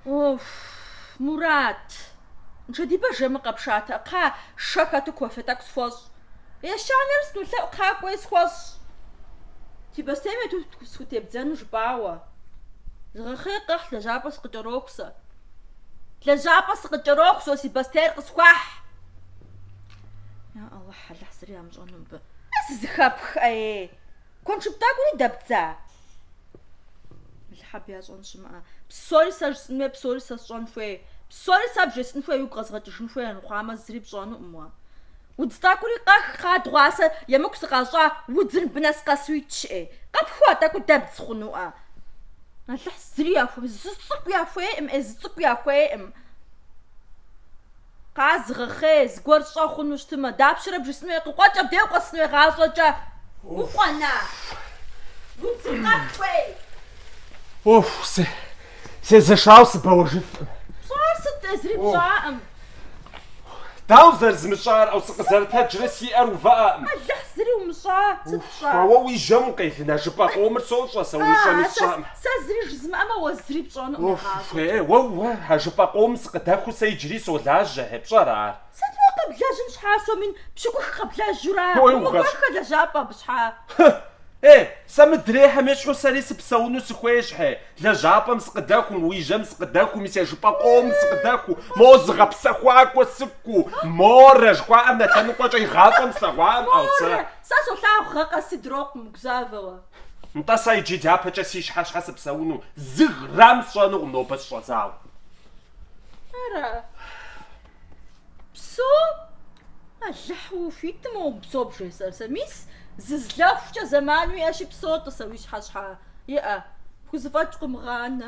Оф, Мурат! Нышэдибэ жэмыр къэпшатэ, кхъа шэ хэту кофе тӏэкӏу схуэщӏ. Ещанэр снулъэӏу кхъа, кӏуэи схуэщӏ. Си бостейм ету схутебдзэну жыпӏауэ. Зыгъэхъей къэхь, лэжьапӏэ сыкъыкӏэроху сэ. Лэжьапӏэ сыкъыкӏэроху сэ, си бостейр къысхуэхь. Я Алыхь, Алыхь зыри ямыщӏэну мыбы. Сызыхэпх ӏей! Куэншыб тӏэкӏури дэбдза? Алыхь, абы ящӏэн щымыӏэ. Псори сэ жысӏын хуей, псори сэ сщӏэн хуей. Псори сэ бжесӏэн хуей, уигу къэзгъэкӏыжын хуей армыхъуамэ, зыри пщӏэнукъым уэ. Удз тӏэкӏури къэх, кхъа, дыгъуасэ емыкӏу сыкъащӏа, удзыр мыбы нэс къэсу итщ, ӏей. Къэпхуа тӏэкӏуи дэбдз хъунуӏэ. Алыхь зыри яхуей, зы цӏыкӏу яхуейкъым ӏей, зы цӏыкӏу яхуейкъым. Кхъа, зыгъэхъей, зыгуэр щӏэ хъуну щытымэ, дапщэрэ бжесӏэн хуей, къыкъуэкӏ абдей укъуэсыну уэ игъащӏэкӏэ. Укъуэна? Удзым къэс хуей? Уэху, се, сезэшауэ сыбэуэжыфкъым. Пщӏар сыт, тӏэ, зыри пщӏаӏым. Дауэ зэрызмыщӏар, ӏэу, сыкъызэрытэджрэ, си ӏэр увыӏэкъым. Алыхь, зыри умыщӏа. пщӏа? Ауэ уи жьэм укъелын, а жыпӏэ къомыр сощӏэ, сэ умыщӏэми А-а, сэ, сщӏэӏым. сэ зыри жызмыӏэмэ, уэ зыри пщӏэнукъым Уэ, игъащӏэкӏэ. уэ, уэ, уэ, а жыпӏэ къомым сыкъыдэхуу сэ иджыри солажьэ, хьэ, пщӏэрэ ар? Сыт уэ къэблэжьын щхьа, сом мин пщыкӏух къэблэжьу ара? Ой, угъэщ. Умыкӏуэххэ лэжьапӏэ абы щхьа? Хы! Э, сэ мыдрейхэм ещхьу сэри сыпсэуну сыхуейщ, хьэ, лэжьапӏэм сыкъыдэхум, уи жьэм сыкъыдэхуми, сэ жыпӏэ къомым сыкъыдэхуу, мо зыгъэпсэхуакӏуэ сыкӏуу, морэ жыхуаӏэм нэ лъэныкъуэкӏэ игъащӏэм слъэгъуакъым, ӏэу, сэ. Морэ, Сэ солъагъу гъэ къэс, дрокъу, умыгузавэ уэ. Нтӏэ сэ иджы дяпэкӏэ си щхьэ щхьэ сыпсэуну зы грамм сщӏэнукъым нобэ щыщӏэдзауэ. Ара? Псэу, Алыхь, ухуитым умыпсэу бжесӏэр сэ. Мис зызлэхукӏэ зэман уиӏэщи псэу, тӏыси уи щхьэ щхьэ иӏэ. Пхузэфӏэкӏ къыумыгъанэ.